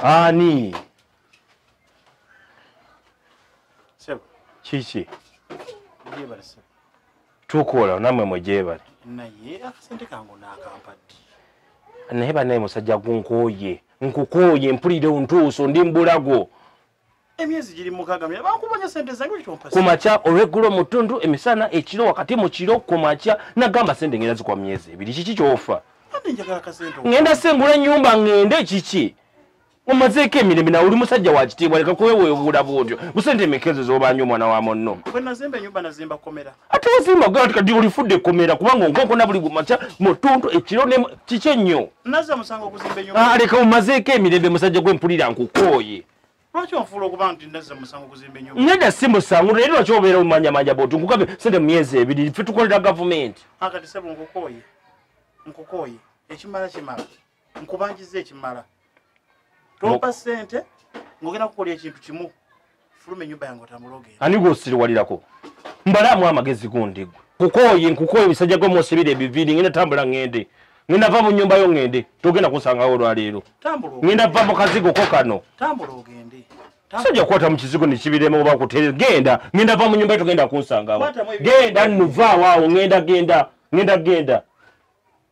ani sebo kiki jebale sebo tukola namwe mujebale naye akasente kangu nakampadde naye banaye musajja gunkoye nkukoye mpulire ontuuso ndi mbulago emyezi giri mukaaga mira bankubanya sente zange lwaki tompasa ku makya olweggulo mu ttundu emisana ekiro wakati mu kiro ku makya nagamba sente ngenda zikuwa myezi ebiri kiki kyofa ate njagala kasente ngenda sengula ennyumba ngende kiki omazeeko emirembe nawe oli musajja wa kitiibwa leka kuweweebuula bwotyo busente emikezo zobanyo omwana wa munno bwe nazimba ennyumba nazimba komera ate wazimba ogamba nti kati olifudde ekkomera kubanga onkonkona buli gumakya mutuntu ekiro kiki ennyo ah, leka omazeeko emirembe musajja gwe mpulira nkukooye nedda si musangu naye lwaki obeera omanyamanya boti nkugabe sente mu myezi ebiri fe tukolera gavumenti ah, nkubanjiza ekimala tompa sente ngogenda kukola ekintu kimu fuluma enyumba yange otamulogera ani gwosiriwalirako mbalaamu amagezi gundi gwe kukooye nkukooye omusajja gwe mwosibira ebiviiri ngenda tambula ngende ngenda va mu nyumba yo ngende togenda kunsangawo olwaleero ngenda va mu kazigo ko kano sajja kukwata mu kizigo nekibirema oba kutere genda ngenda va mu nyumba yo togenda kunsangawo genda nuvaawo awo ngenda genda ngenda genda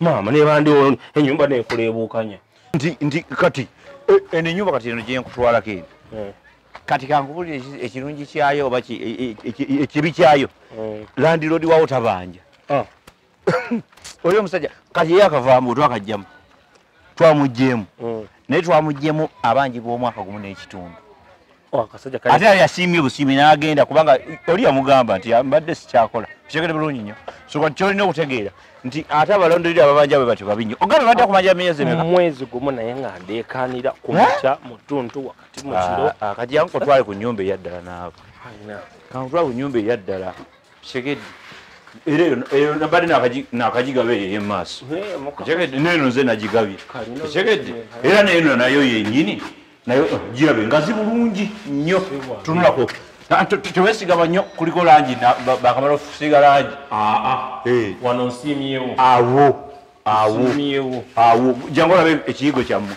maama nebandi ono enyumba nekulebuukanya nti nti kati e, eno enyumba kati eno gyenkutwalako eno eh. kati kankubulira ekirungi kyayo oba e, e, ekibi kyayo eh. landiroodi wawo tabanja ah. oli omusajja kati ye akavaamu twakajjamu twamugjeemu eh. naye twamuggyemu abanjibwa omwaka gumu n'ekitundu oh, ate yali asiimye obusiimi n'agenda kubanga oli yamugamba nti mbadde sikyakola kitegede bulungi nnyo soka nti kyolina okutegeera nti ate abalondolera ababanja bwe batyo babi nnyo ogambye badde kumanja myezi emeka mwezi gumu naye nga ndeekaanira ku makya mu ttuntu wakati mu kiro ah, ah, kati yankutwale ku nnyumba eyaddala naabo kankutwale ku nnyumba eyaddala kitegedde era eyo nabadde nakagigaba eyo eyemumaaso kitegedde neeno nze nagigabye kitegedde era neeno nayo yenyini naye eh, girabe ngazi bulungi nnyo tunulako tewesigama nnyo kuliko langi bakamala okusiga langi ah, ah. Eh. wano nsiimyewo awo awo awo jangu olabe ekiyigo kyammwe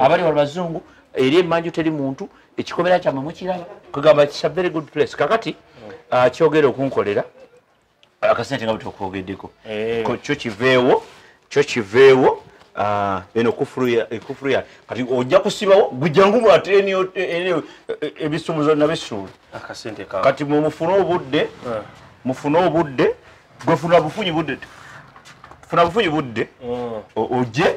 abali wali bazungu eri emanju teri muntu ekikomera kyamwe mukiraba kugamba kisa very good place kakati hmm. ah, kyogera okunkolera akasente nga bwetokwogeddeko eh. kyo kiveewo kyo kiveewo Ah, eno ekufuru ya eh, kati ojja kusibawo gujangu bwate ebisumuzo eh, eh, nabisuula kati mufune obudde ah. mufune obudde gwefuna bufunyi budde funa bufunyi budde ah. oje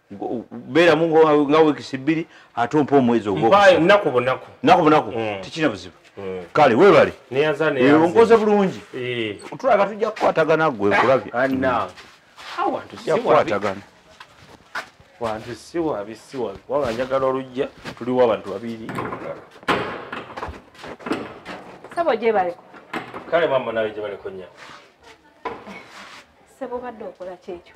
beeramu nga wiikisi bbiri ate ompa omwezi ogwonaku bunaku naku bunaku mm. tekirina buzibu mm. kale webale onkoze bulungi eh. tulaga tujja kukwatagana gwe nkulabye kukwatagana wantu siwabi siwabi kubanga njagala olujja tuliwo abantu babiri sebo gyebaleko kale mama nawe gyebaleko nya sebo badde okola kyekyo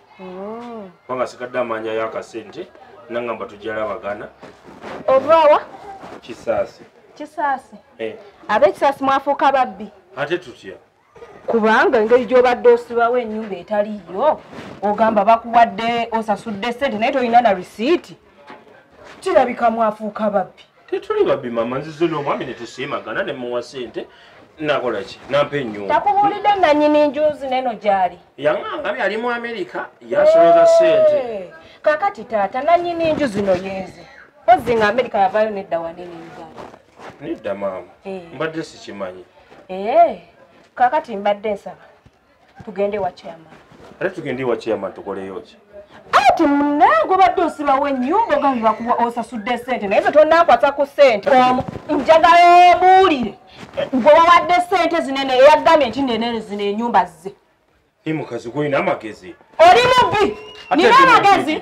oh. kubanga sigadde amanya yakasente nangamba tujala abagana obwawa kisaasi kisaasi eh. abekisaasi mwafuuka babbi ate tutya kubanga engeri gyobadde osibawo enyumba etaliyo ogamba bakuwadde osasudde sente naye tolina na risiiti kirabika mwafuuka babbi tetuli babbi mama nzize n'omwami ne tusiimagana ne muwa sente nakola ki nampa enyumba takubuulidde nanyini njuzi neno gyali yaŋanga byali mu amerika yasoloza sente kakati taata nanyini nju zino yenze ozzi nga amerika yavayo nedda wanene uganda nedda maama eh. mbadde sikimanyi eh, kakati mbadde nsaba tugende wa chairman ate tugende wa chairman tukoleyo ki ati munange obadde osibawo ennyumba ogambi bakuwa osasudde sente naye ze tonakwata ku sente njagala obuulire gwe wawadde sente zinene eyagambye nti nenene zino enyumba zze i mukazi gwolina amagezi oli mubbi nina amagezi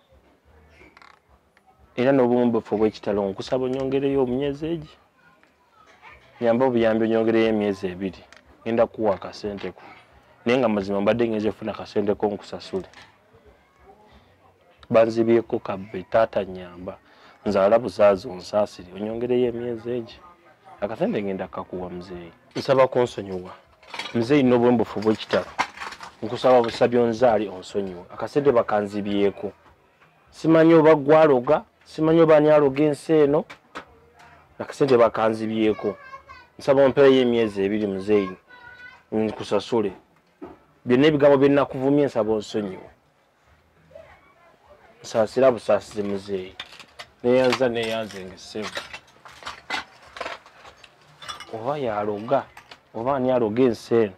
era n'obumu buffe obw'ekitalo nkusaba onyongereyo omunyezi egi nyamba obuyambi onyongereyo emyezi ebiri ngenda kuwa akasenteko naye nga mazima mbadde ngenza efuna akasenteko nkusasule banzibyeko kabbe taata nyamba nzaala buzaazi onsaasire onyongereyo emyezi egi akasente ngenda kakuwa muzeeyi nsaba kunsonyiwa nze ino obwembufu bwekitalo nkusaba busabi onzaali onsonyiwe akasente bakanzibyeku simanyi oba gwaloga simanyi oba ani aloga ensi eno akasente bakanzibyeku nsaba ompeereyo emyezi ebiri muzeeyi nkusasule byonna ebigambo byenakuvumye nsaba onsonyiwe nsasira busasizi muzeeyi neyanza neyanze ngesebo oba yaloga oba ani aloga ensi eno